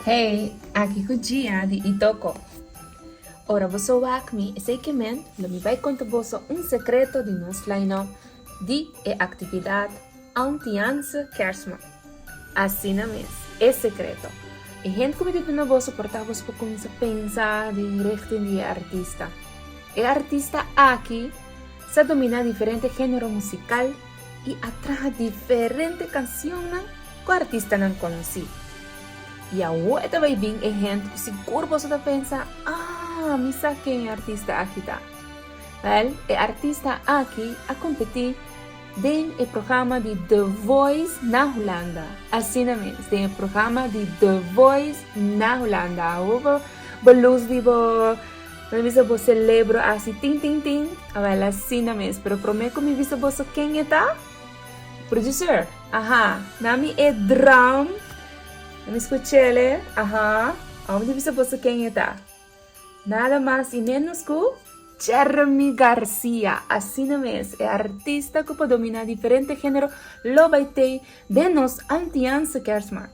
Hey, aki cu Gia di Itoco. Ora boso wak mi esey kemen, lo mi bay conta boso un secreto di nos line-up di e actividad Auntianse Kersman. Asina mes, e secreto. E hende cu mi di duna boso por ta boso pa cuminsa pensa den richting di e artista. E artista aki sa domina diferente genero musical. i a traha diferente cancionnan cu artistanan conoci. I awo e ta bay bin e hent cu sigur boso ta pensa, Ah, mi sa ken e artista aki ta. Wel, e artista aki a competi den e programa di The Voice na Hulanda. Asina mes, den e programa di The Voice na Hulanda. Awo bo lus di bo. Mi a bisa bo celebro asi tin tin tin. Awel asina mes, pero prome cu mi bisa boso ken e ta? Producer, Aha, na mi e drum. Na mi scuchele, Aha, awor mi bisa boso ken e ta. Nada mas y menos cu Jeremy Garcia. Asina mes, e artista cu por domina diferente genero lo bay tey den nos Antianse Kersmaand.